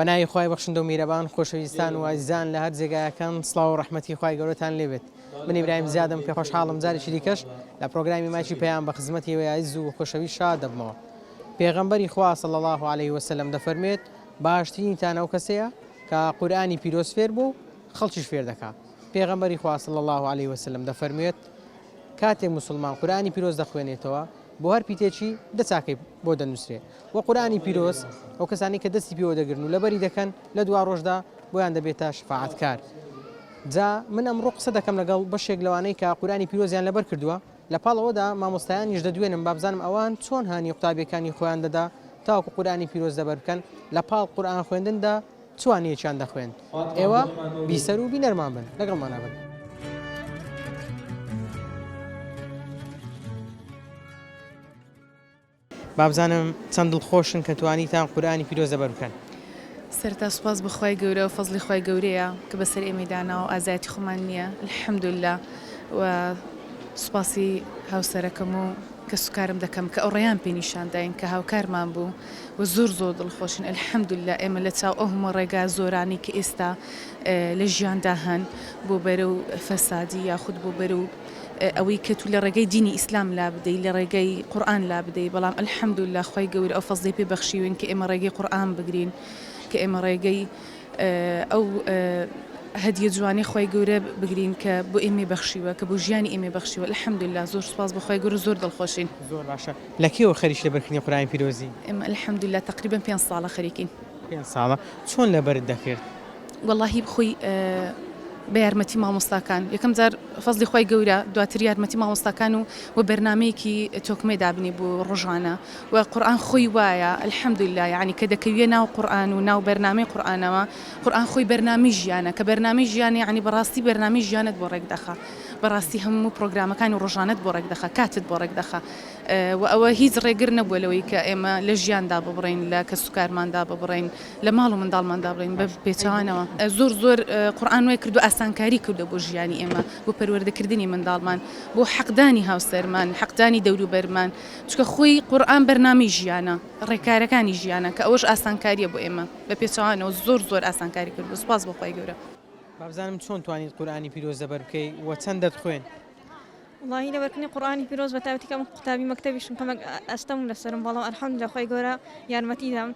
بەناوی خی بەخشندە و میرەبان خۆشەویستان و ئازیزان لە هەر جێگایەکەم سلااو و ڕحمەتی خی گەورەتان لێبێت منی برایم زیادم پێ خۆشحاڵم جارێکی دیکەش لە پرۆگرامی ماچی پێیان بە خزمەتی وەیز و خۆشەوی شاد دەبمەوە پێغەمبەری خواسە لە الله عليه وسلم دەفەرمێت باشترینتان ئەو کەسەیە کە قورآانی پیرۆز فێر بوو خەڵکیش فێر دەکات پێغەمبەری خواسە لە الله عليه وسلم دەفەرمێت کاتێک موسڵمان قورئانی پیرۆز دەخوێنێتەوە بۆ هەر پیتێکی دە چاکەی بۆ دەنوسرێ وە قورئانی پیرۆز ئەو کەسانەی کە دەستی پێوە دەگرن و لەبەری دەکەن لە دواڕۆژدا بۆیان دەبێتە شەفاعەتکار جا من ئەمڕۆ قسە دەکەم لەگەڵ بەشێک لەوانەی کە قورئانی پیرۆزیان لەبەر کردووە لە پاڵ ئەوەدا مامۆستایانیش دەدوێنم با بزانم ئەوان چۆن هانی قوتابیەکانی خۆیان دەدا تاوەکو قورئانی پیرۆز لەبەر بکەن لە پاڵ قورئان خوێندندا چوانیەکیان دەخوێن ئێوە بیسەر و بینەرمان بن لەگەڵمانا بن. بابزانم چەند دڵخۆشن کە توانیتان قورئانی پیرۆز لەبەر بکەن. سەرەتا سوپاس بۆ خوای گەورە و فەزڵی خوای گەورەیە کە بەسەر ئێمەی داناوە و ئازایەتی خۆمان نییە الحمدللە و سوپاسی هاوسەرەکەم و کەسوکارم دەکەم کە ئەو ڕێیان پێ نیشانداین کە هاوکارمان بوو و زۆر زۆر دڵخۆشین الحمدللە ئێمە لە چاو ئەو هەموو ڕێگا زۆرانەی کە ئێستا لە ژیاندا هەن بۆ بەرەو فەسادی یاخود بۆ بەرەو ئەوەی کە تو لە ڕێگەی دینی ئیسلام لا بدەی لە ڕێگەی قورئان لا بدەی بەڵام الحمدللە خوای گەورە ئەو فەزڵی پێ بەخشیوین کە ئێمە ڕێگەی قورئان بگرین کە ئێمە ڕێگەی ئەو هەدیە جوانەی خوای گەورە بگرین کە بۆ ئێمەی بەخشیوە کە بۆ ژیانی ئێمەی بەخشیوە الحمدللە زۆر سوپاس بۆ خوای گەورە زۆر دڵخۆشین. زۆر باشە لە کەیەوە خەریکی لەبەر کردنی قورئانی پیرۆزی؟ ئێمە الحمدللە تەقریبەن پێنج ساڵە خەریکین. پێنج ساڵە چۆن لەبەرت دەکرد؟ وەڵاهی خۆی بە یارمەتی مامۆستاکان یەکەم جار فەزلی خوای گەورە دواتر یارمەتی مامۆستاکان و و بەرنمەیەکی تۆکمەی دابنی بوو ڕۆژانە و قورآن خۆی وایە الحمدللە یعنی کە دەکەویە ناو قورآن و ناو بەرنمەی قورآنەوە قورآن خۆی بەرنمەی ژیانە کە بەرنمەی ژیانە یعنی بەڕاستی بەرنمەی ژیانت بۆ ڕێک دەخا. بەڕاستی هەموو پڕۆگرامەکان و ڕۆژانەت بۆ ڕێکدەخا کاتت بۆ ڕێکدەخا وە ئەوە هیچ ڕێگر نەبووە لەوەی کە ئێمە لە ژیان داببڕێین لە کەس و کارمان داببڕێین لە ماڵ و منداڵمان دابڕێین بە پێچەوانەوە زۆر زۆر قورئان وای کردووە ئاسانکاری کردووە بۆ ژیانی ئێمە بۆ پەروەردە کردنی منداڵمان بۆ حەق دانی هاوسەرمان حەق دانی دەوروبەرمان چونکە خۆی قورئان بەرنامەی ژیانە ڕێکارەکانی ژیانە کە ئەوەش ئاسانکاریە بۆ ئێمە بە پێچەوانەوە زۆر زۆر ئاسانکاری کردووە سوپاس بۆ خوای گەورە. بابزانم چۆن توانیت قورئانی پیرۆز زەبەر بکەی و چەند دەتخوێن؟ وەڵاهی لەبەرکردنی قورئانی پیرۆز بەتایبەتی کە من قوتابی مەکتەبیشم کەمێک ئەستەمم لەسەرم بەڵام الحمدللە خوای گەورە یارمەتی دام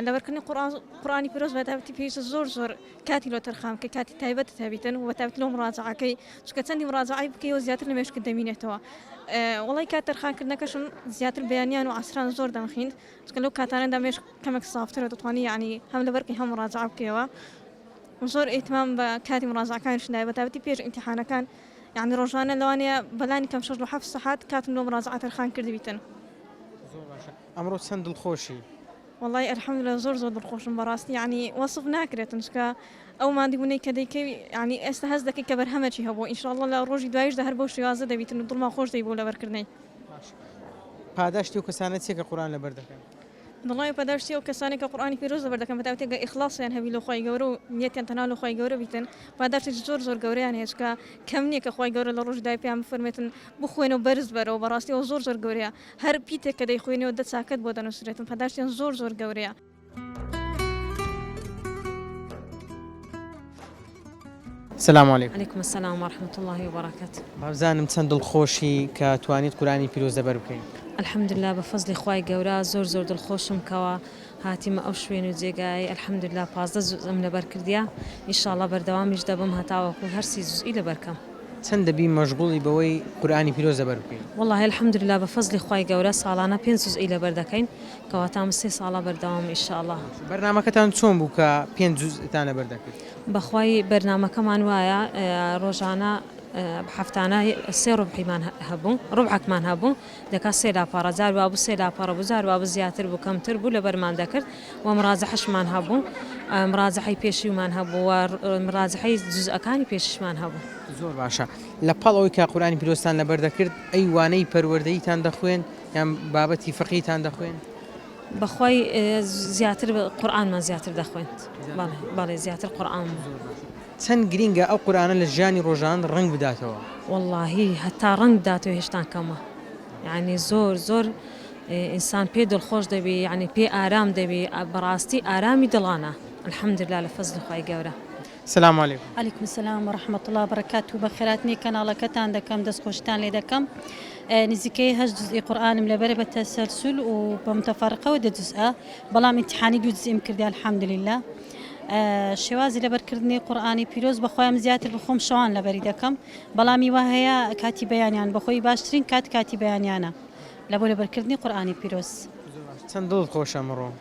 لەبەرکردنی قورئان قورئانی پیرۆز بەتایبەتی پێویستە زۆر زۆر کاتی لۆ تەرخان بکەی کاتی تایبەتت هەبیتن و بەتایبەت لۆ مڕاجەعەکەی چونکە چەندی مڕاجەعەی بکەیەوە زیاتر لە مێشکت دەمینێتەوە وەڵی کات تەرخانکردنەکەشم زیاتر بەیانیان و عەسران زۆر دەمخیند چونکە لەو کاتانەدا مێشک کەمێک سافترە دەتوانی یانی هەم لەبەرکەی هەم مڕاجەعە بکەیەوە زۆر ئیهتمام بە کاتی مراجەعەکانیشم دایە بەتایبەتی پێش ئیمتیحانەکان یەعنی ڕۆژانە لەوانەیە بەلانی کەم شەش بۆ حەفت سەحات کاتم لۆ مراجەعە تەرخان کردبیتن. زۆر باشە ئەمڕۆ چەند دڵخۆشی؟ وەڵای الحمدللە زۆر زۆر دڵخۆشم بەڕاستی یەعنی وەسف ناکرێتن چونکە ئەو ماندبونەی کە دەیکەی یەعنی ئێستا هەست دەکەی کە بەرهەمەکی هەبووە ان شاءاللە لە ڕۆژی دوایشدا هەر بەو شێوازە دەبیتن و دڵمان خۆش دەبی بۆ لەبەرکردنەی. باشە پاداشتی ئەو کەسانە چیە کە قورئان لەبەر دەکەن؟ دڵنیابە پاداشتی ئەو کەسانەی کە قورئانی پیرۆز لەبەر دەکەن بەتایبەتی ئەگەر ئیخڵاسیان هەبی لۆ خوای گەورە و نیەتیان تەنها لۆ خوای گەورە بیتن پاداشتێکی زۆر زۆر گەورەیان هەیە چونکە کەم نیە کە خوای گەورە لە ڕۆژی دای پێیان بفەرموێتن بخوێنە و بەرز بەرەوە بەڕاستی ئەوە زۆر زۆر گەورەیە هەر پیتێک کە دەیخوێنیەوە دە چاکەت بۆ دەنوسرێتن پاداشتیان زۆر زۆر گەورەیە. سلام علیکم. علیکم السلام ورحمة اللە وبرکاته. وابزانم چەند دڵخۆشی کە توانیت قورئانی پیرۆز لەبەر بکەی. الحمدللە بە فەزلی خوای گەورە زۆر زۆر دڵخۆشم کەوا هاتیمە ئەو شوێن و جێگایەی الحمدللە پازدە جوزئم لەبەر کردیە ئیشاڵڵە بەردەوامیش دەبم هەتاوەکو هەر سی جوزئی لەبەر کەم. چەند دەبی مەشغوڵی بەوەی قورئانی پیرۆز لەبەر بکەی؟ وەڵاهی الحمدللە بە فەزلی خوای گەورە ساڵانە پێنج جوزئی لەبەر دەکەین کەواتە ئەمە سێ ساڵە بەردەوامم ئیشاڵڵە. بەرنامەکەتان چۆن بوو کە پێنج جوزئتان لەبەر دەکرد؟ بەخوای بەرنامەکەمان وایە ڕۆژانە هەفتانە سێ ڕوبحیمان هەبوو ڕوبحەکمان هەبوو دەکا سێ لاپەڕە جار وابوو سێ لاپەڕە بوو جار وابوو زیاتر بوو کەمتر بوو لەبەرمان دەکرد و مڕاجەحەشمان هەبوو مڕاجەحەی پێشیومان هەبوو و مڕاجەحەی جزئەکانی پێشیشمان هەبوو. زۆر باشە لە پاڵ ئەوەی کە قورئانی پیرۆزتان لەبەر دەکرد ئەی وانەی پەروەردەییتان دەخوێند یان بابەتی فقهیتان دەخوێند؟ بەخوای زیاتر قورئانمان زیاتر دەخوێند بەڵێ بەڵێ زیاتر قورئان بوو. چەند گرینگە ئەو قورئانە لە ژیانی ڕۆژان ڕەنگ بداتەوە. وەڵاهی هەتا ڕەنگ بداتەوە هێشتان کەمە یانی زۆر زۆر ئینسان پێ دڵخۆش دەبی یانی پێ ئارام دەبی بەڕاستی ئارامی دڵانە الحمدللە لە فەزلی خوای گەورە. سلام علیکم. علیکم السلام و رحمە اللە و برکاته بەخێرات نی کەناڵەکەتان دەکەم دەست خۆشیتان لێ دەکەم نزیکەی هەشت جزئی قورئانم لەبەر بە تەسەلسول و بە متەفەرقەوە دە جزئە بەڵام ئیمتیحانی دوو جزئیم کردی الحمدللە شێوازی لەبەرکردنی قورآانی پیرۆز بەخۆیان زیاتر بخۆم شەوان لەبەری دەکەم بەڵامی وا هەیە کاتی بەیانیان بەخۆی باشترین کات کاتی بەیانیانە لە بۆ لەبەرکردنی قورآانی پیرۆز چەند دڵت خۆشە مڕۆ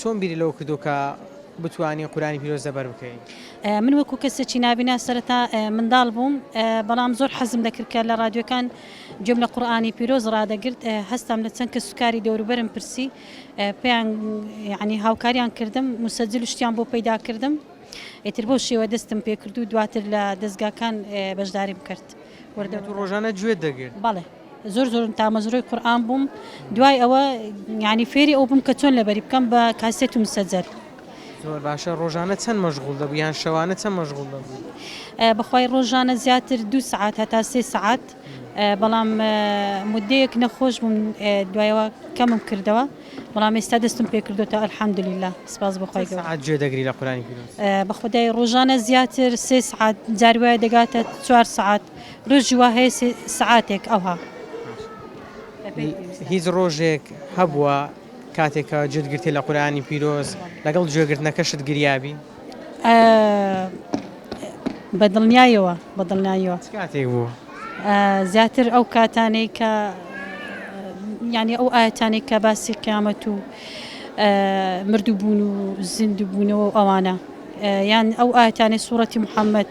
چۆن بیری لەوە کردووە کە بتوانی قورئانی پیرۆز لەبەر بکەی؟ من وەکو کەسێکی نابینا سەرەتا منداڵ بووم بەڵام زۆر حەزم دەکرد کە لە ڕادیۆکان گوێم لە قورئانی پیرۆز ڕادەگرت هەستام لە چەند کەسوکاری دەوروبەرم پرسی پێیان یعنی هاوکاریان کردم مسجل شتیان بۆ پەیدا کردم ئیتر بۆ شێوە دەستم پێکرد و دواتر لە دەستگاکان بەشداریم کرد وردە ڕۆژانە گوێ دەگرت بەڵێ زۆر زۆر تامەزرۆی قورئان بووم دوای ئەوە یانی فێری ئەو بووم کە چۆن لەبەری بکەم بە کاسێت و مسەجەل. زۆر باشە ڕۆژانە چەند مەشغوڵ دەبوو یان شەوانە چەند مەشغوڵ دەبوو؟ بەخوای ڕۆژانە زیاتر دوو سەعات هەتا سێ سەعات بەڵام مدەیەک نەخۆش بووم دوایەوە کەمم کردەوە بەڵام ئێستا دەستم پێکردوتە الحمدللە سپاس بۆ خۆی گەورە. سەعات گوێ دەگری لە قورئانی پیرۆز؟ بەخودای ڕۆژانە زیاتر سێ سەعات جار وایە دەگاتە چوار سەعات ڕۆژی وا هەیە سێ سەعاتێک ئەوها لە پێی پێویستە. هیچ ڕۆژێک هەبووە کاتێک کە گوێت گرتیە لە قورئانی پیرۆز لەگەڵ گوێ گرتنەکەشت گریابی؟ ئە بە دڵنیایەوە بە دڵنایەوە. چ کاتێک بوو؟ ئە زیاتر ئەو کاتانەی کە یانی ئەو ئایەتانەی کە باسی قیامەت و ئە مردووبوون و زیندووبوونەوە و ئەوانە. یان ئەو ئایەتانەی سوڕەتی محەممەد.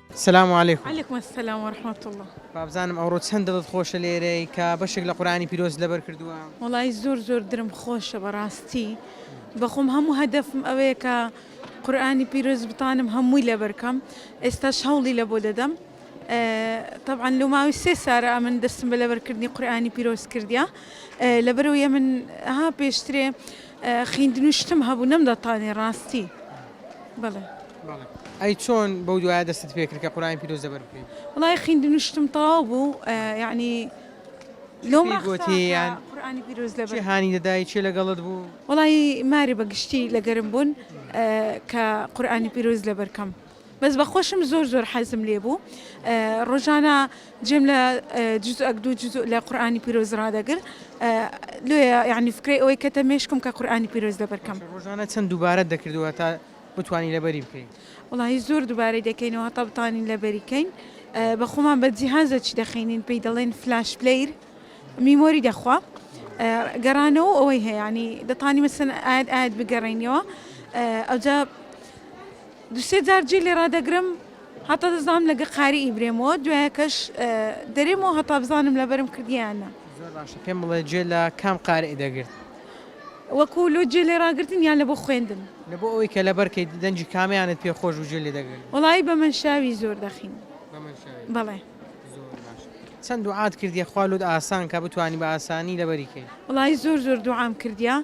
سلام علیکم. علیکم السلام ورحمة اللە. بابزانم ئەوڕۆ چەند دڵت خۆشە لێرەی کە بەشێک لە قورئانی پیرۆزت لەبەر کردووە؟ وەڵایی زۆر زۆر درم خۆشە بەڕاستی بەخۆم هەموو هەدەفم ئەوەیە کە قورئانی پیرۆز بتانم هەمووی لەبەرکەم ئێستاش هەوڵی لە بۆ دەدەم طبعاً لە ماوەی سێ سارە ئەمن دەستم بە لەبەرکردنی قورئانی پیرۆز کردیا لەبەرەوەی من ها پێشترێ خویندنو شتم هەبوو نەمدەتانی ڕاستی بڵێم. بەڵێ ئەی چۆن بەو دوایە دەستت پێکرد کە قورئانی پیرۆز زەبر بکەی؟ وەڵای خویندنو شتم تەواو بوو یەعنی کێ لەو پێی مەقسا گۆتی کە یان قورئانی پیرۆز لەبەر کێ هانی دەدای کێ لەگەڵت بوو؟ وەڵایی مارێ بەگشتی لەگەرم بوون کە قورئانی پیرۆز لەبەر کەم. بەس بە خۆشم زۆر زۆر حەزم لێ بوو ڕۆژانە جێم لە جزء ئەک دوو جزء لە قورئانی پیرۆز ڕادەگر لۆیە یعنی فکرەی ئەوەی کەتە مێشکم کە قورئانی پیرۆز لەبەر کەم باشە ڕۆژانە چەند دووبارەت دەکردوە تا بتوانی لەبەری بکەی؟ وەڵاهی زۆر دووبارەی دەکەینەوە هەتا بتوانین لەبەری کەین بە خۆمان بە جیهازە چی دەخینین پێی دەڵێن فلاش پلەیر میمۆری دەخوا گەڕانەوە ئەوەی هەیە یعنی دەتوانی مەسەلەن ئایەت ئایەت بگەڕێینیەوە ئەوجا دوو سێ جار جێ لێ ڕادەگرم هەتا دەزانم لەگە قاریی برێمەوە دوایەکەش دەرێمەوە هەتا بزانم لەبەرم کردیە یان نا. زۆر باشە پێم بڵێ جێ لە کام قاریی دەگرت؟ وەکوو لۆ جێ لێ ڕاگرتن یان لە بۆ خوێندن؟ لە بۆ ئەوەی کە لەبەر کەیت دەنگی کامیانت پێ خۆش بوو جێ لێ دەگرت؟ وەڵایی بە مەنشاوی زۆر دەخین. بە مەنشاوی؟ بەڵێ. زۆر باشە. چەند دوعات کردیە خوا لۆت ئاسان کا بتوانی بە ئاسانی لەبەری کەی؟ وەڵایی زۆر زۆر دوعام کردیە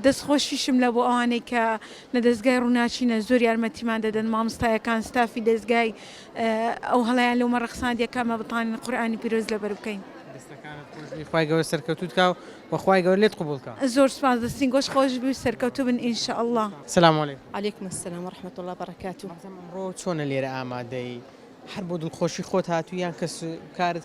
دەست خۆشیشم لە بۆ ئەوانەی کە لە دەزگای ڕوناکینە زۆر یارمەتیمان دەدەن ماموستایەکان ستافی دەزگای ئەو هەڵەیان لەو مەڕە قسانە دێ کامە بتانین قورئانی پیرۆز لەبەر بکەین. دەستەکانت خۆش بی خوای گەورە سەرکەوتوت کا و وە خوای گەورە لێت قبوڵ کا. زۆر سوپاس دەستین گۆش خۆش بی و سەرکەوتو بن ان شاء اللە. سلام علیکم. علیکم السلام ورحمە اللە وبرکاتوه. بەڕێزم ئەمڕۆ چۆنە لێرە ئامادەی؟ هەر بۆ دڵخۆشی خۆت هاتوی یان کەسوکارت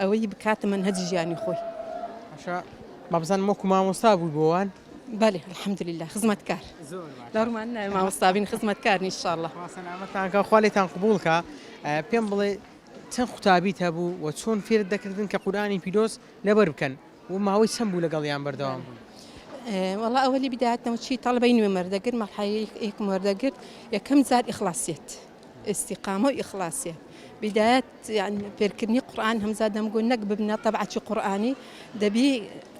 ئەوەی بکاتە مەنهەجی ژیانی خۆی. باشە بابزانم وەکو مامۆستا بووی بۆ وان؟ بەلی الحمد للە خزمەتکار دەڕمان ناوێ مامۆستابین خزمەتکار نیشاءاللە. خوا سەلامەتتان کا و خوا لێتان قبووڵ کا. پێم بڵێ چەند قوتابیت هەبوو و چۆن فێرت دەکردن کە قورئانی پیرۆز لەبەر بکەن و ماوەی چەند بوو لەگەڵیان بەردەوام بووی؟ وەڵا ئەوەلی بدایەتەوە چی تەڵەبەی نوێم وەردەگرت مەرحەلەی یەکم وەردەگرت یەکەم جار ئیخڵاسیەت ئیستیقامە و ئیخڵاسیە بیدایەت یان فێرکردنی قورئان هەمزا دەمگۆ نەک ببنە تەبعەکی قورئانی دەبی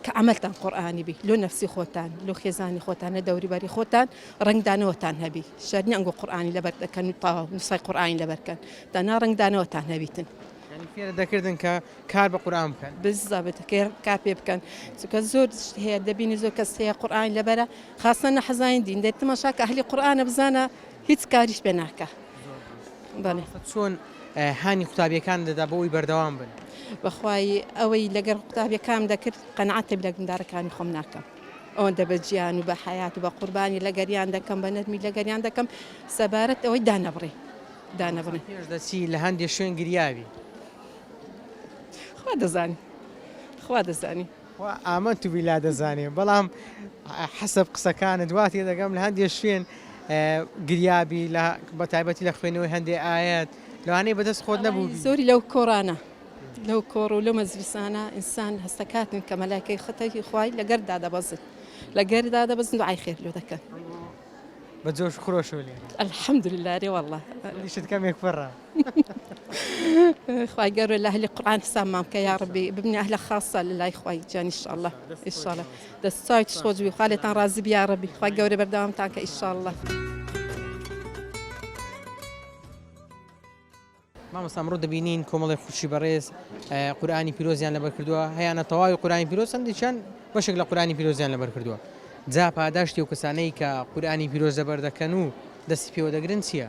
کە عەمەلتان قورئانی بی لۆ نەفسی خۆتان لۆ خێزانی خۆتان لە دەوریبەری خۆتان ڕەنگدانەوەتان هەبی شەرت نیە ئەنگۆ قورئانی لەبەر دەکەن و تەواو نوسخەی قورئانی لەبەر کەن دەنا ڕەنگدانەوەتان هەبیتن یانی فێرت دەکردن کە کار بە قورئان بکەن. بالضبط کە کار پێ بکەن چونکە زۆر شت هەیە دەبینی زۆر کەس هەیە قورئانی لەبەرە خاصە نەحەزانی دین دەی تماشا کە ئەهلی قورئانە بزانە هیچ کاریش پێ ناکا بەڵێ. چۆن هانی قوتابیەکان دەدا بۆ ئەوی بەردەوام بن؟ بەخوای ئەوەی لەگەر قوتابیەکان دەکرد قەناعەتێ لە گندارەکانی خۆم ناکەم ئەوەندە بە جیان و بە حیات و بە قوربانی لەگەریان دەکەم بە نەرمی لەگەریان دەکەم سەبارەت ئەوەی دانەبڕی دانەبڕی پێش دەچی لە هەندێک شوێن گریاوی خوا دەزانی خوا دەزانی خوا ئامنت باللە دەزانێ بەڵام حەسەب قسەکانت وا تێدەگەم لە هەندێ شوێن گریابی لە بە تایبەتی لە خوێنەوەی هەندێ ئایەت لەوانەیە بەدەست خۆت وەڵاهی نەبووبی. زۆری لەو کۆڕانە لەو کۆڕ و لەو مەجلیسانە ئینسان هەستەکاتن کە مەلایکەی خەتەکی خوای لە گەرددا دەبەزن لە گەرددا دەبەزن دوعای خێر لۆ دەکەن. بە جۆش و خرۆشەوە لێرە. الحمدللە ئەرێ وەڵڵا. دڵیشت کەمێک پڕە. خوای گەورە لە ئەهلی قورئان حسابمان بکە یا ڕەبی ببنە ئەهلە خاصە لە لای خوای جان انشاءاللە انشاءاللە دەست چاوێکی خۆش بی خوا لێتان ڕازی بی یا ڕەبی خوای گەورە بەردەوامتان کە انشاءاللە مامۆستا ئەمڕۆ دەبینین کۆمەڵی خوشی بەڕێز قورآانی پیرۆزیان لەبەر کردووە هەیەە تەواوی قورآانی پیرۆز هەندێکیان بەشێک لە قورآانی پیرۆزیان لەبەر کردووە جا پاداشتی و کەسانەی کە قورآانی پیرۆز دەبەر دەکەن و دەستی پێوە دەگرن چییە؟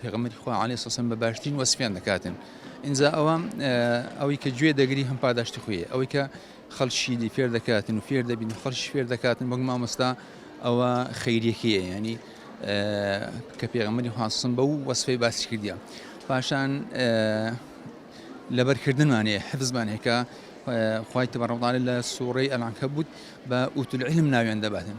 پێغەمبەری خوا علی سەسەن بە باشترین وەسفیان دەکاتن ئینجا ئەوە ئەوەی کە گوێ دەگری هەم پاداشتی خوێ ئەوەی کە خەڵکی دی فێر دەکاتن و فێر دەبین خەڵش فێر دەکاتن بەگ مامۆستا ئەوە خەیرەکەیە ینی کە پێغەمەری حسن بە و وەسفەی باسی کردیە پاشان لەبەرکردنمانەیە حفزمان هێکا خی تەبڕەڵداە لە سوڕی ئەلانکە بوت بە ئوتل علم ناوێن دەباتن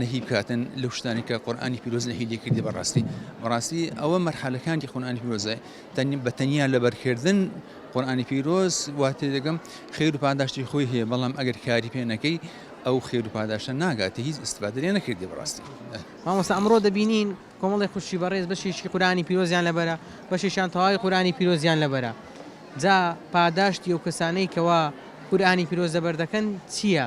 نەهی بکاتن لەو شتانی کە قورآانی پیرۆز نەهی لێ کردی بەڕاستی بەڕاستی ئەوە مەرحەلەکانی قورآانی پیرۆزە تەنیم بە تەنیا لەبەرکردن قورآانی پیرۆز واتێ دەگەم خێر و پاداشتی خۆی هەیە بەڵام ئەگەر کاری پێ نەکەی ئەو خێر و پاداشتە ناگاتە هیچ ئستفادە لێ نەکردی بەڕاستی مامۆستا ئەمڕۆ دەبینین کۆمەڵی خوشی بەڕێز بەشێکی قورآانی پیرۆزیان لەبەرە بەشێکیان تەواوی قورآانی پیرۆزیان لەبەرە جا پاداشتی ئەو کەسانەی کەوا قورآانی پیرۆز لەبەر دەکەن چییە؟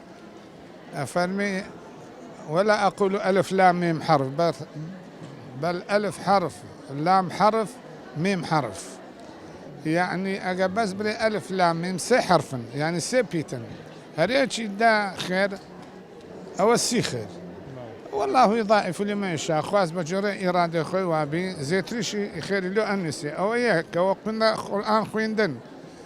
ئەفەرمێ، ولا اقول الف لام میم حرف بل الف حرف لام حرف میم حرف یەعنی ئەگەر بەس بلێ الف لام میم سێ حەرفن یەعنی سێ پیتن هەرێکی دا خێر ئەوە سی خێر والله یضاعف لمن یشاء خواست بە جۆرە ئیرادەی خۆی وابی زێتریشی خێری لۆ ئەنوسێ ئەوە یەک کەوە قورئان خویندن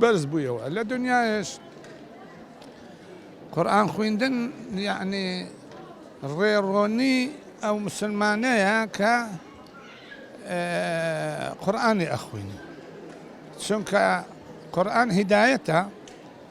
بەرز بویەوە لە دونیایش قورئان خویندن یەعنی ڕێڕۆنی ئەو موسلمانەیە کە قورئانی ئەخوینی چونکە قورئان هیدایەتە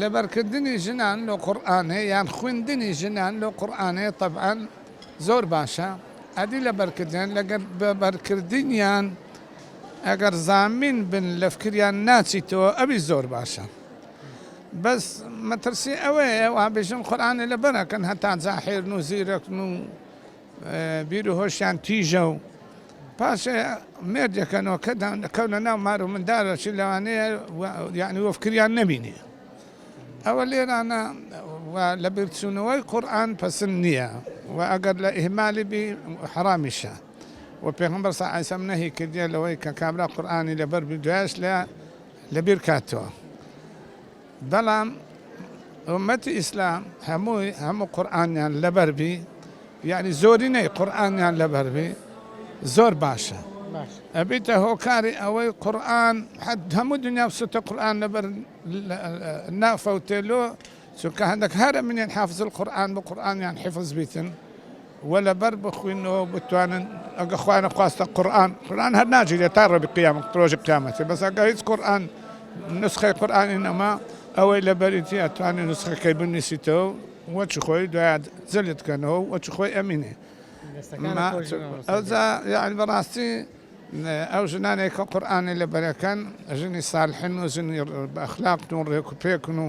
لەبەرکردنی ژنان لۆ قورئانێ یان خویندنی ژنان لۆ قورئانێ تەبعەن زۆر باشە ئەدی لەبەرکردن لەگەر بەرکردنیان ئەگەر زامین بن لە فکریان ناچیتەوە ئەوی زۆر باشە بەس مەترسی ئەوەیە وابژن قورئانێ لەبەر ئەکەن هەتا جاحێلن و زیرەکن و بیر و هۆشیان تیژە و پاش مێردێکە نۆکە دەکەونە ناو مار و مندارە چ لەوانەیە یعنی وە فکریان نەبینی ئەوە لێرانە لە بیرچوونەوەی قورآن پسن نییە و ئەگەر لە ئیهمالی بی حرامیشە و پێغمبەر صلی الله علیه و سلم نهی کردیە لەوەی کە کابرا قورآنی لەبەر بی دوایش لە لەبیر کاتەوە بەڵام ئومەتی ئیسلام هەمووی هەموو قورئانیان لەبەر بی یانی زۆرینەی قورئانیان لەبەر بی زۆر باشە ئەبیتە هۆکاری ئەوەی قورئان حد هەموو دنیا سوتە قورئان لەبەر نافەوتێلۆ چونکە هەندێک هەرە منێن حافزل قورئان بە قورئانیان حفز بیتن وە لەبەر بخوینەوە بتوانن ئەگە خوا نەخواستە قورئان قورئان هەر ناگیرێ تا ڕۆبی قیامە ڕۆژی قیامەتی بەس ئەگە هیچ قورئان نسخەی قورئانی نەما ئەوەی لەبەریتی ئەتوانێ نسخەکەی بنویسیتەوە وە چ خۆی دوای جەلد کەنەوە وە چ خۆی ئەمینێ ئەوجا یعنی بەڕاستی ئەو ژنانێک کە قورئانی لەبەرەکەن ژنی سالحن و ژنی ئەخلاقن و ڕێک و پێکن و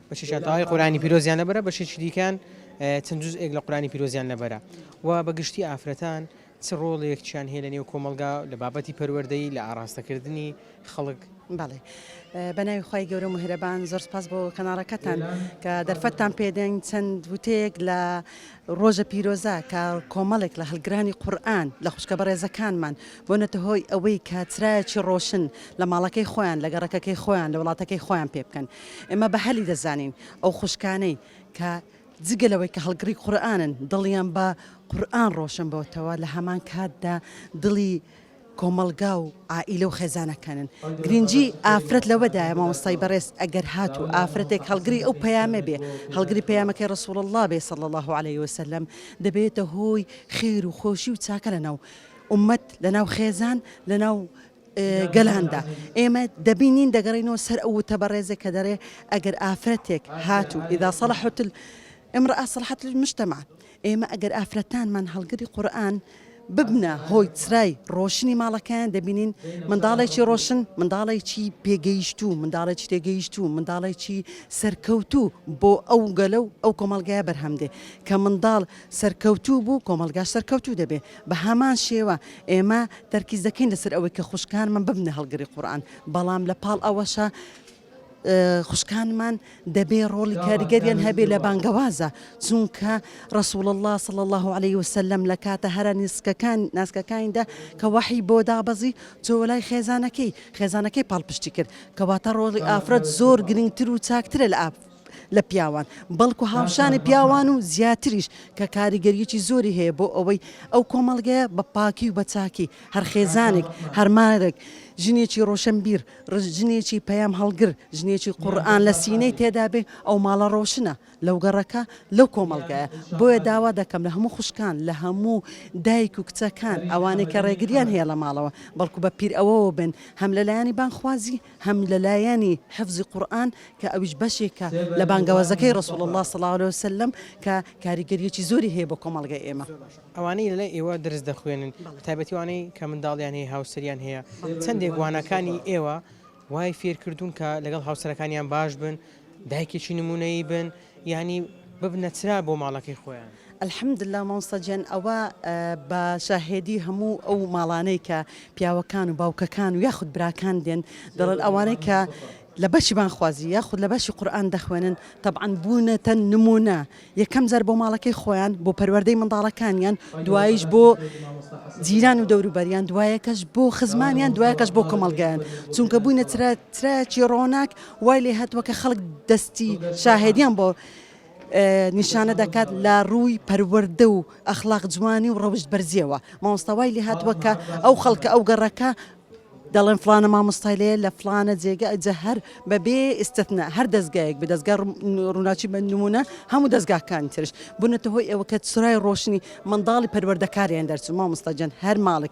بەشێکیان تەواوی قورئانی پیرۆزیان لەبەرە بەشێکی دیکەیان چەند جوزئێک لە قورئانی پیرۆزیان لەبەرە و بە گشتی ئافرەتان چ ڕۆڵێکیان هەیە لەنێو کۆمەڵگا لە بابەتی پەروەردەی لە ئاڕاستەکردنی خەڵک بەڵێ بە ناوی خی گەورە و مهرەبان زۆر سپاس بۆ کەناڵەکەتان کە دەرفەتتان پێدەنگ چەند وتەیەک لە ڕۆژە پیرۆزە کە کۆمەڵێک لە هەلگرانی قورآن لە خوشکە بەڕێزەکانمان بۆ نەتە هۆی ئەوەی کە چرایەکی ڕۆشن لە ماڵەکەی خۆیان لە گەڕەکەکەی خۆیان لە وڵاتەکەی خۆیان پێ بکەن ئێمە بە هەلی دەزانین ئەو خوشکانەی کە جگە لەوەی کە هەڵگڕی قورئانن دڵیان بە قورئان ڕۆشن بۆتەوە لە هەمان کاتدا دڵی کۆمەڵگا و عائیلە و خێزانەکانن گرنگی ئافرەت لەوەدایە مامۆستای بەڕێز ئەگەر هات و ئافرەتێک هەڵگری ئەو پەیامە بێ هەڵگری پەیامەکەی ڕسوڵ الله بێ صلی الله عليه وسلم دەبێتە هۆی خێر و خۆشی و چاکە لەناو ئومەت لەناو خێزان لەناو گەلاندا ئێمە دەبینین دەگەڕێنەوە سەر ئەو وتە بەڕێزێک کە دەرێ ئەگەر ئافرەتێک هات و ئیدا سەڵحت امرأة صلحت المجتمع ئێمە ئەگەر ئافرەتانمان هەڵگری قورآن ببنە هۆی چرای ڕۆشنی ماڵەکەیان دەبینین منداڵێکی ڕۆشن منداڵێکی پێگەیشت و منداڵێکی تێگەیشت و منداڵێکی سەرکەوتوو بۆ ئەو گەلە و ئەو کۆمەلگای بەرهەمدێ کە منداڵ سەرکەوتوو بوو کۆمەڵگاش سەرکەوتوو دەبێ بەهامان شێوە ئێمە تەرکیز دەکەین لەسەر ئەوەی کە خوشکانمان ببنە هەڵگری قورئان بەڵام لە پاڵ ئەوەشە خوشکانمان دەبێ ڕۆڵی کاریگەریان هەبێ لە بانگەوازە چونکە ڕسول الله صلى الله عليه وسلم لە کاتە هەرە نیسکەکان ناسکەکانیدا کە وەحی بۆ دابەزی چۆلای خێزانەکەی خێزانەکەی پاڵپشتی کرد کەواتە ڕۆڵی ئافرەت زۆر گرنگتر و چاکترە لە ئاپ لە پیاوان بەڵکو هاوشانی پیاوان و زیاتریش کە کاریگەریی زۆری هەیە بۆ ئەوەی ئەو کۆمەڵگەیە بە پاکی و بە چاکی هەر خێزانێک هەر مارێک ژنێکی ڕۆشنبیر ڕژ ژنێکی پەیام هەڵگر ژنێکی قورئان لە سینەی تێدا بێ ئەو ماڵە ڕۆشنە لەو گەڕەکە لەو کۆمەڵگایە بۆیە داوا دەکەم لە هەموو خوشکان لە هەموو دایک و کچەکان ئەوانەی کە ڕێگریان هەیە لە ماڵەوە بەڵکو بە پیر ئەوەوە بن هەم لەلایەنی بانخوازی هەم لە لایەنی حفزی قورئان کە ئەویش بەشێکە لە بانگەوازەکەی رسول اللە صلی اللە علیە وسلم کە کاریگەریەکی زۆری هەیە بۆ کۆمەڵگەی ئێمە. ئەوانەی لەلای ئێوە دەرس دەخوێنن بە تایبەتی ئەوانەی کە منداڵیان هەیە هاوسەریان هەیە چەندێک وانەکانی ئێوە وای فێرکردوون کە لەگەڵ هاوسەرەکانیان باش بن دایکێکی نموونەیی بن، یانی ببنە چرا بۆ ماڵەکەی خۆیان. الحمداللە مامۆستا گیان ئەوە بە شاهێدی هەموو ئەو ماڵانەی کە پیاوەکان و باوکەکان و یاخود براکان دێن دەڵێن ئەوانەی کە لە بەشی بانگخوازی یاخود لە بەشی قورئان دەخوێنن تەبعەن بوونەتە نموونە یەکەم جار بۆ ماڵەکەی خۆیان بۆ پەروەردەی منداڵەکانیان دوایش بۆ جیران و دەوروبەریان دوایەکەش بۆ خزمانیان دوایەکەش بۆ کۆمەڵگەیان چونکە بووینە چرا چرایەکی ڕۆناک وای لێ هاتووە کە خەڵک دەستی شاهێدیان بۆ نیشانە دەکات لە ڕووی پەروەردە و ئەخلاق جوانی و ڕەوشت بەرزیەوە مامۆستاوای لێ هاتووە کە ئەو خەڵکە ئەو گەڕەکە دەڵێن فلانە مامۆستای لێ لە فلانە جێگە ئەجە هەر بەبێ ئستتنا هەر دەستگایەک بە دەستگا ڕووناچی بە نمونە هەموو دەستگاکان ترش بوونەتە هۆی ئەوە کە سرای ڕۆشنی منداڵی پەروەردەکاریان دەرچوو مامۆستاجان هەر ماڵێک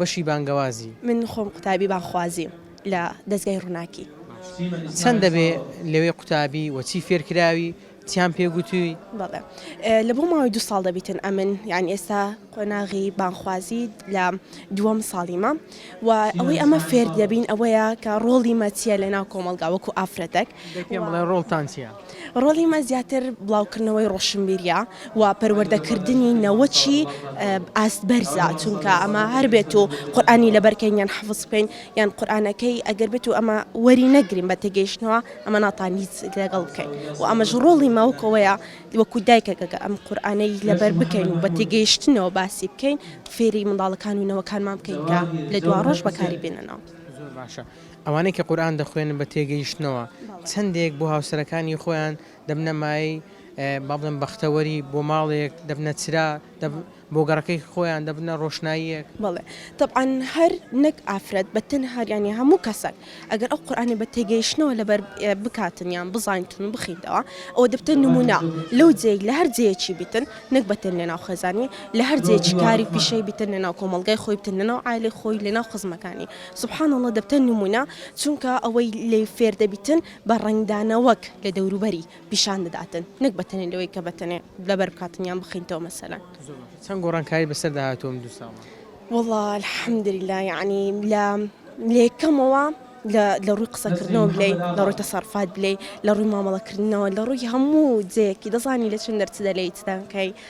بەشی بانگەوازی. من خۆم قوتابی بانگخوازیم لە دەزگای ڕوناکی. چەند دەبێ لەوێ قوتابی وە چی فێر کراوی چیان پێ گوتوی؟ بەڵێ لە بۆ ماوەی دوو ساڵ دەبیتن ئەمن یان ئێستا قۆناغی بانخوازی لە دووەم ساڵیمە و ئەوەی ئەمە فێر دەبین ئەوەیە کە ڕۆڵی مە چیە لە ناو کۆمەڵگا وەکو ئافرەتەک دەی پێم بڵێ ڕۆڵتان چیە؟ ڕۆڵی من زیاتر بڵاوکردنەوەی ڕۆشنبیریە و پەروەردەکردنی نەوەکی ئاست بەرزە چونکە ئەمە هەر بێت و قورآانی لەبەرکەین یان حەفز بکەین یان قورآانەکەی ئەگەر بێت و ئەمە وەری نەگرین بە تێگەیشتنەوە ئەمە ناتانی لەگەڵ بکەین و ئەمەش ڕۆڵی ماوکەوەیە وەکو دایکەکەکە ئەم قورآانەی لەبەر بکەین و بە تێگەیشتنەوە باسی بکەین فێری منداڵەکان و نەوەکانمان بکەین کە لە دواڕۆژ بەکاری بێننەوە. ئەوانەی کە قورئان دەخوێنن بە تێگەیشتنەوە، چەندێک بۆ هاوسەرەکانی خۆیان دەبنە مایەی با بڵێم بەختەوەری، بۆ ماڵێک دەبنە چرا، بۆ گەڕەکەی خۆیان دەبنە ڕۆشناییەک. بەڵێ تەبعەن هەر نەک ئافرەت بە تەنها یانی هەموو کەسەک ئەگەر ئەو قورئانە بە تێگەیشتنەوە لەبەر بکاتن یان بزانیتن و بخینتەوە ئەوە دەبتە نموونە لەو جێیەک لە هەر جێیەکی بیتن نەک بە تەن لەناو خێزانی لە هەر جێیەکی کاری پیشەی بیتن لەناو کۆمەڵگای خۆی بتن لەناو عایلەی خۆی لەناو خزمەکانی. سبحان اللە دەبتە نمونە چونکە ئەوەی لێی فێر دەبیتن بە ڕەنگدانەوەک لە دەوروبەری پیشان دەداتن نەک بە تەنێ لەوەی کە بە تەنێ لەبەر بکاتن یان بخینتەوە مەسەلەن. چەند گۆڕانکاری بەسەردا هاتووە ئەم دوو ساڵە؟ وەڵا الحمدللە یەعنی لە لە یەکەمەوە لە لە ڕووی قسەکردنەوە بلێی لە ڕووی تەسەڕفات بلێی لە ڕووی مامەڵەکردنەوە لە ڕووی هەموو جێیەکی دەزانی لە چ نەرچ دەلێی چ دەنکەی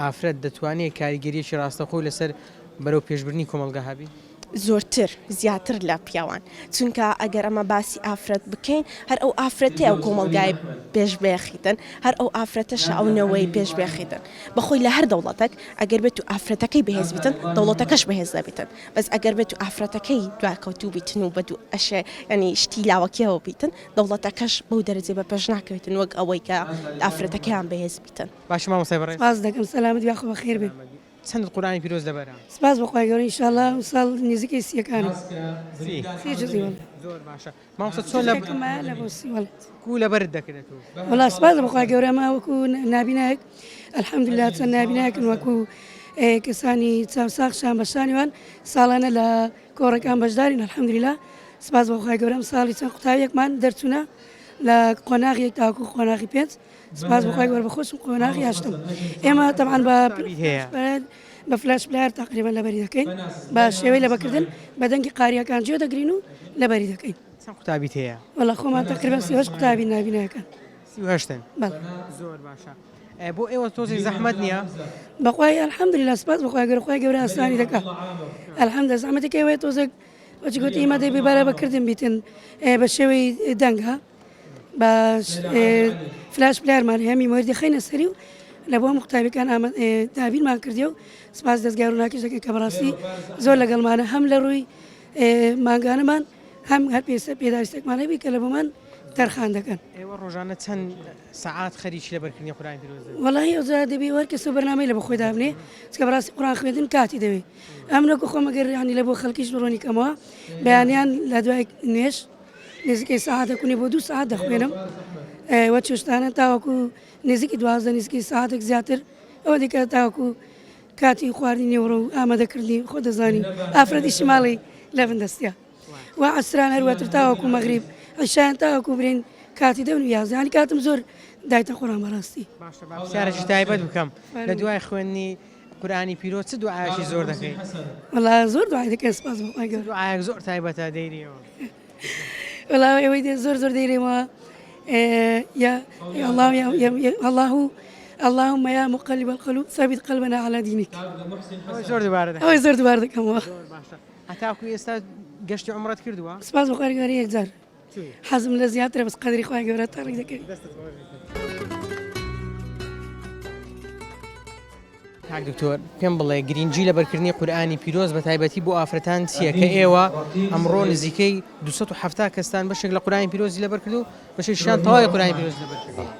ئافرەت دەتوانێت کاریگەرییەکی ڕاستەوخۆی لەسەر بەرەوپێشبردنی کۆمەڵگا هەبێت؟ زۆرتر، زیاتر لە پیاوان. چونکە ئەگەر ئەمە باسی ئافرەت بکەین، هەر ئەو ئافرەتەیە ئەو کۆمەڵگای پێش بخیتن، هەر ئەو ئافرەتەشە ئەو نەوەی پێش بخیتن. بە خۆی لە هەر دەوڵەتەک ئەگەر بێت و ئافرەتەکەی بەهێز بیتن، دەوڵەتەکەش بەهێز دەبیتن. بەس ئەگەر بێت و ئافرەتەکەی دواکەوتوو بیتن و بە دوو ئەشێ یانی شتی لاوەکییەوە بیتن، دەوڵەتەکەش بەو دەرەجەی بە پێش ناکەویتن وەک ئەوەی کە ئافرەتەکەیان بەهێز بیتن. باشی مامۆستای بەڕێز. سپاست دەکەم سەلامەت یاخۆ بەخێر بێ. چەندت قورئانی پیرۆز لەبەرە؟ سپاس بۆ خوای گەورە انشاءاللە ئەمساڵ نزیکەی سیەکانم سی جزی واللە. زۆر باشە مامۆستا چۆن لە جزەکەکم مایە لە بۆ سی واللە. کوو لەبەرت دەکرێت و. وەڵا سپاس بەخوای گەورە ئەمە وەکو نابینایەک الحمدللە چەند نابینایەکن وەکو کەسانی چاوساغ شان بەشانی وان ساڵانە لە کۆڕەکان بەشدارین الحمدللە سپاس بۆ خوای گەورە ئەمساڵی چەند قوتابیەکمان دەرچوونە لە قۆناغ یەک تاوەکو قۆناغی پێنج سپاس بۆ خوای گەورە بە خۆشم قۆناغی هەشتم ئێمە تەبان بە بە فلاش پلار تقریبا لەبەری دەکەین بە شێوەی لە بەکردن بە دەنگی قاریەکان جێ دەگرین و لەبەری دەکەین قوتابی هەیە وڵا خۆمان تقریبا سیهش قوتابی نابینەکەن هشتن زۆر باشە بۆ ئێوە تۆزی زەحمت نییە بەخوای الحمد لە سپاس بخوای گەر خخوای گەورە ئاسانی دەکە الحمد زەحمەتەکەوەی تۆزێک وەجگوتی ئمە دەبی بارە بەکردن بیتن بە شێوەی دەنگە بە فلاش پلارمان هەمی مردی خینە سەری و لە بۆ مختابەکان دابینمان کردی و سپاس دەستگار و ناکەش دەکەن کە بەڕاستی زۆر لەگەڵمانە هەم لە ڕووی ماگانەمان هەم هەر پێسە پێداویستێکمانە بی کە لە بۆمان تەرخان دەکەن ئێوە ڕۆژانە چەند سعات خەریکی لە بەرکردنی قوران پیرۆز وڵی ئەوزا دەبی وەرکەس و بەرنامەی لە بخۆی دابنێ چکە بەڕاستی قڕان خوێندن کاتی دەوێت ئەم نەکو خۆمەگەر ڕیانی لە بۆ خەڵکیش ڕۆنی کەمەوە بەیانیان لە دوای نوێش نزیکەی سەعاتێک و نیو بۆ دوو سەعات دەخوێنم و چێشتانە تاوەکو نزیکی دوازدە نزیکی سەعاتێک زیاتر ئەوە دیکە تاوەکو کاتی خواردی نێوڕۆ و ئامادەکردنی خۆ دەزانین ئافرەتی شماڵی لە بندەستە و عسران هەروەتر تاوەکو مەغریب عشان تاوەکو برین کاتی دەون یازانی کاتم زۆر دایتە خۆران بەڕاستی باشە باشارێکی تایبەت بکەم لە دوای خوێندنی قورئانی پیرۆز چ دوعایەکی زۆر دەکەی. وەڵا زۆر دوعای دەکەم سوپاس بۆ خوای گەورە. چ دوعایەک زۆر تایبەتە دەیرێیەوە. وەڵا ئێوەی دێ زۆر زۆر دەیرێمەوە یا ئەڵڵا ئەڵڵا و اللهم يا مقلب القلوب ثبت قلبنا على دينك زۆر دوبارە ئەوەی زۆر دوبار دەکەمەوە هەتاکو ئێستا گەشتی عمرت کردووە سپاس بخوارگاری یەکجار حەزم لە زیاترە بەس قەدری خوای گەورە تەڕی دەکەوی کاک دکتۆر پێم بڵێ گرنگجی لە بەرکردنی قورآانی پیرۆز بە تایبەتی بۆ ئافرەتان چییە کە ئێوە ئەمڕۆ نزیکەی 270 کەستان بەشێک لە قورآانی پیرۆزی لەبەر کردو بەشێکشان تەواوی قورآانی پیرۆز لەبەر کردووە.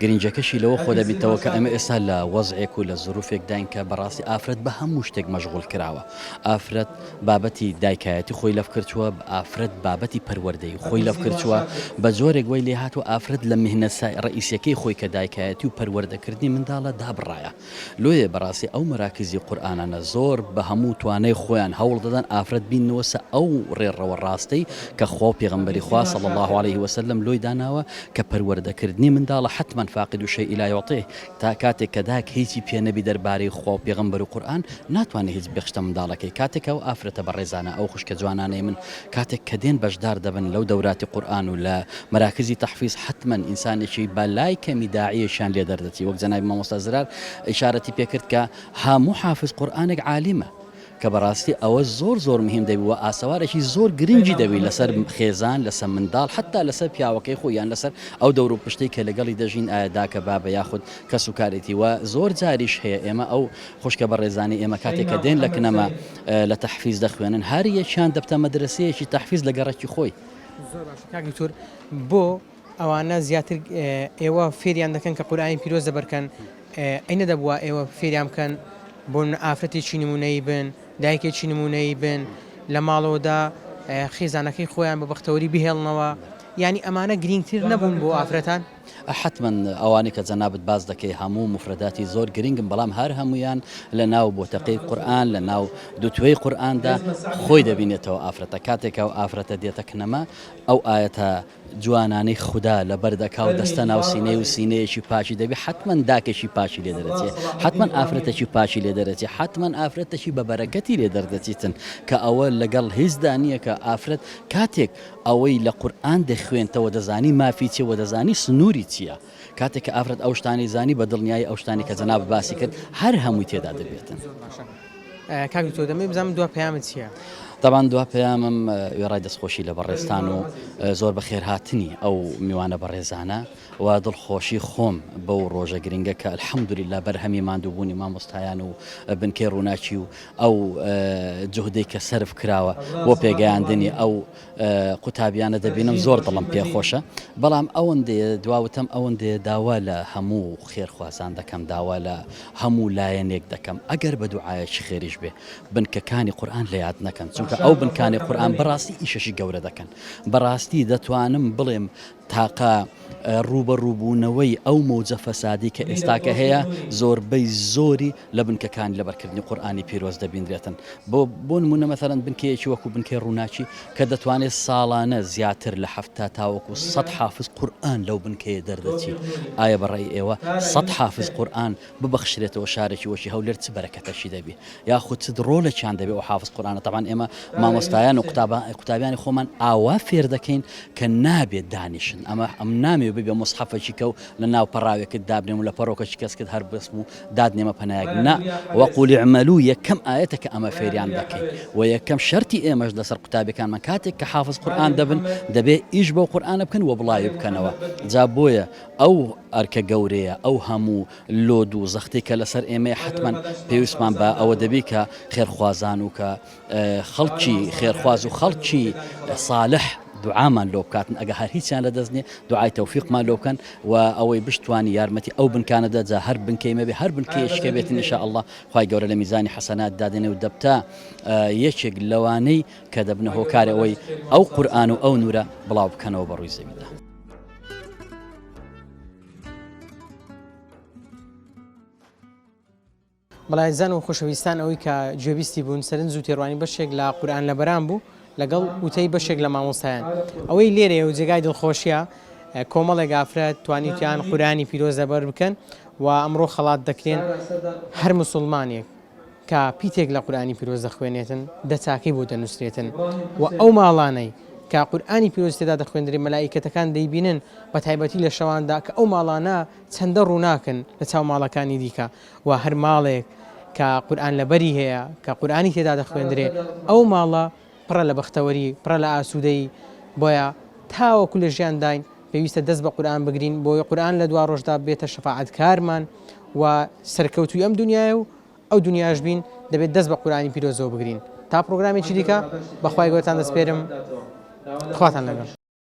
گرنگەکەشی لەوە خۆ دەبیتەوە کە ئەمە ئێستا لە وەزعێک و لە زروفێک داین کە بەڕاستی ئافرەت بە هەموو شتێک مەشغول کراوە ئافرەت بابەتی دایکایەتی خۆی لەف کردووە ئافرەت بابەتی پەروەردەی خۆی لەف کردووە بە جۆرێک وی لێ هاتوو ئافرەت لە مهنە ڕئیسەکەی خۆی کە دایکایەتی و پەروەردەکردنی منداڵە دابڕایە لۆیە بەڕاستی ئەو مەراکیزی قورئانانە زۆر بە هەموو توانای خۆیان هەوڵ دەدەن ئافرەت بیننەوە سە ئەو ڕێڕەوە ڕاستەی کە خوا و پێغەمبەری خوا صلی اللە علیە و سلم لۆی داناوە کە پەروەردە کردنی منداڵە حتما فاقد شیء لا یعطیه تا کاتێک کە دایک هیچی پێ نەبی دەربارەی خوا و پێغەمبەر و قورئان ناتوانێ هیچ بخشتە منداڵەکەی کاتێک کە ئەو ئافرەتە بەڕێزانە ئەو خوشکە جوانانەی من کاتێک کە دێن بەشدار دەبن لەو دەوراتی قورئان و لە مەراکزی تەحفیز حەتمەن ئینسانێکی بە لای کەمی داعیەکیان لێ دەردەچی وەک جەنابی مامۆستا زرار ئیشارەتی پێ کرد کە هەموو حافز قورئانێک عالیمە کە بەڕاستی ئەوە زۆر زۆر مهیم دەبی وە ئاسەوارێکی زۆر گرنگی دەبی لەسەر خێزان لەسە منداڵ حەتا لەسەر پیاوەکەی خۆی یان لەسەر ئەو دەور و پشتەی کە لەگەڵی دەژین ئایا داکە بابە یاخود کەس و کارێتی وە زۆر جاریش هەیە ئێمە ئەو خوشکە بەڕێزانەی ئێمە کاتێک کە دێن لە کنەما لە تەحفیز دەخوێنن هەر یەکیان دەبتە مەدرەسەیەکی تەحفیز لە گەڕەکی خۆی. زۆر باشە کاک دکتۆر بۆ ئەوانە زیاتر ئێوە فێریان دەکەن کە قورئانی پیرۆز لەبەر کەن ئەی نەدەبوا ئێوە فێریان بکەن بۆ نمونە ئافرەتێکی نموونەیی بن دایکێکی نموونەیی بن لە ماڵەوەدا خێزانەکەی خۆیان بە بەختەوەری بهێڵنەوە یانی ئەمانە گرینگتر نەبوون بۆ ئافرەتان؟ حەتمەن ئەوانەی کە جەنابت باس دەکەی هەموو موفرەداتی زۆر گرنگن بەڵام هەر هەموویان لە ناو بۆتەقەی قورئان لە ناو دوتوێی قورئاندا خۆی دەبینێتەوە ئافرەتە کاتێک ئەو ئافرەتە دێتە کنەما ئەو ئایەتە جوانانەی خودا لە بەردەکاو دەستە ناو سینەی و سینەیەکی پاچی دەبی حتمما داکەشی پاچی لێ دەرەچێ حتمما ئافرەتەکی پاچی لێ دەرەچێ حتمما ئافرەتەکی بە بەرەکەتی لێ دەردەچیتن کە ئەوە لەگەڵ هیچدا نییە کە ئافرەت کاتێک ئەوەی لە قورئان دەخوێنتەوە دەزانی مافی چیە وە دەزانی سنوری چیە کاتێک کە ئافرەت ئەو شتانەی زانی بە دڵنیایی ئەو شتانەی کە جەنابت باسی کرد هەر هەمووی تێدا دەبێتن. زۆر باشە کاک دکتۆر دەمەوێت بزانم دوا پەیامت چیە؟ تابان دوا پەیامم وێڕای دەستخۆشی لە بەڕێزتان و زۆر بەخێرهاتنی ئەو میوانە بەڕێزانە و دڵخۆشی خۆم بەو ڕۆژە گرنگە کە الحەمدللە بەرهەمی ماندووبوونی مامۆستایان و بنکەی ڕووناکی و ئەو جوهدەی کە سەرف کراوە بۆ پێگەیاندنی ئەو قوتابیانە دەبینم زۆر دڵم پێخۆشە بەڵام ئەوەندێ دواوتەم ئەوەندێ داوا لە هەموو خێرخوازان دەکەم داوا لە هەموو لایەنێک دەکەم ئەگەر بە دوعاەکی خێریش بێ بنکەکانی قورآن لە یاد نەکەن چونکە ئەو بنکانی قورآن بەڕاستی ئیشەشی گەورە دەکەن بەڕاستی دەتوانم بڵێم تاقە ڕووبەڕووبوونەوەی ئەو مەوجە فەسادی کە ئێستاکە هەیە، زۆربەی زۆری لە بنکەکانی لەبەرکردنی قورئانی پیرۆز دەبینرێتن. بۆ بۆ نموونە مەسەلەن بنکەیەکی وەکوو بنکەی ڕووناکی کە دەتوانێت ساڵانە زیاتر لە حەفتا تاوەکوو سەد حافز قورئان لەو بنکەیە دەردەچیت، ئایا بە ڕای ئێوە سەد حافز قورئان ببەخشرێتەوە شارێکی وەکی هەولێر چ بەرەکەتەکی دەبی یاخود چ ڕۆلێکیان دەبێت و حافظ قورآانە تاوان ئێمە مامۆستایان و قوتابە قوتابیانی خۆمان ئاوا فێر دەکەین کە نابێت دانیشن ئەمە ئەم نامێ ببێ مصحفەکی کە و لە ناو پەراوێکت دابنێم و لە پەرۆکەش کەس کرد هەر بەسم و داد نێمە پەنایەک نا وەقولی عملو یەکەم ئاەتە کە ئەمە فێریان دەکەین و یەکەم شەری ئێمەش لەسەر قوتابەکانمان کاتێک کە حافظ قورآان دەبن دەبێت ئیش بۆ قورآانە بکەن و بڵاوی بکەنەوە جا بۆیە ئەو ئەرکە گەورەیە، ئەو هەموو لۆد و زەختەی کە لەسەر ئێمەیە حەتمەن پێویستمان بە ئەوە دەبی کە خێرخوازان و کە خەڵکی خێرخواز و خەڵکی ساڵح دوعامان لۆ بکاتن ئەگە هەر هیچیان لە دەست نیە دوعای تەوفیقمان لۆ بکەن و ئەوەی بشتوانی یارمەتی ئەو بنکانە دە جا هەر بنکەی مەبێ هەر بنکەیەشکە بێتن ان شاء اللە خوای گەورە لە میزانی حەسەنات دادێنێ و دەبتە یەکێک لەوانەی کە دەبنە هۆکارەوەی ئەو قورئان و ئەو نورە بڵاو بکەنەوە بە ڕووی زەویدا. بەڵێزان و خۆشەویستان ئەوەی کە گوێبیستی بوون سەرنج و تێڕوانی بەشێک لە قورآان لە بەران بوو لەگەڵ وتەی بەشێک لە مامۆستایان ئەوەی لێرێ و جێگای دڵخۆشیە کۆمەڵێک ئافرەت توانیتیان قورانی پیرۆز لەبەر بکەن و ئەمڕۆ خەڵات دەکرێن هەر مسلمانێک کە پیتێک لە قورئانی پیرۆز دەخوێنێتن دە چاکەی بۆ دەنووسرێتن و ئەو ماڵانەی کە قورئانی پیرۆز تێدا دەخوێندرێ مەلائیکەتەکان دەیبینن بە تایبەتی لە شەواندا کە ئەو ماڵانە چەندە ڕووناکن لە چاو ماڵەکانی دیکە و هەر ماڵێک کە قورئان لەبەری هەیە کە قورئانی تێدا دەخوێندرێ ئەو ماڵە پڕە لە بەختەوەری، پڕە لە ئاسوودەیی، بۆیە تاوەکو لە ژیانداین پێویستە دەست بە قورئان بگرین، بۆی قورئان لە دواڕۆژدا ببێتە شەفاعەتکارمان و سەرکەوتووی ئەم دونیای و ئەو دونیاش بین، دەبێت دەست بە قورئانی پیرۆزەوە بگرین. تا پڕۆگرامێکی دیکە، بەخوای گەورەتان دەسپێرم، خواتان لەگەڵ.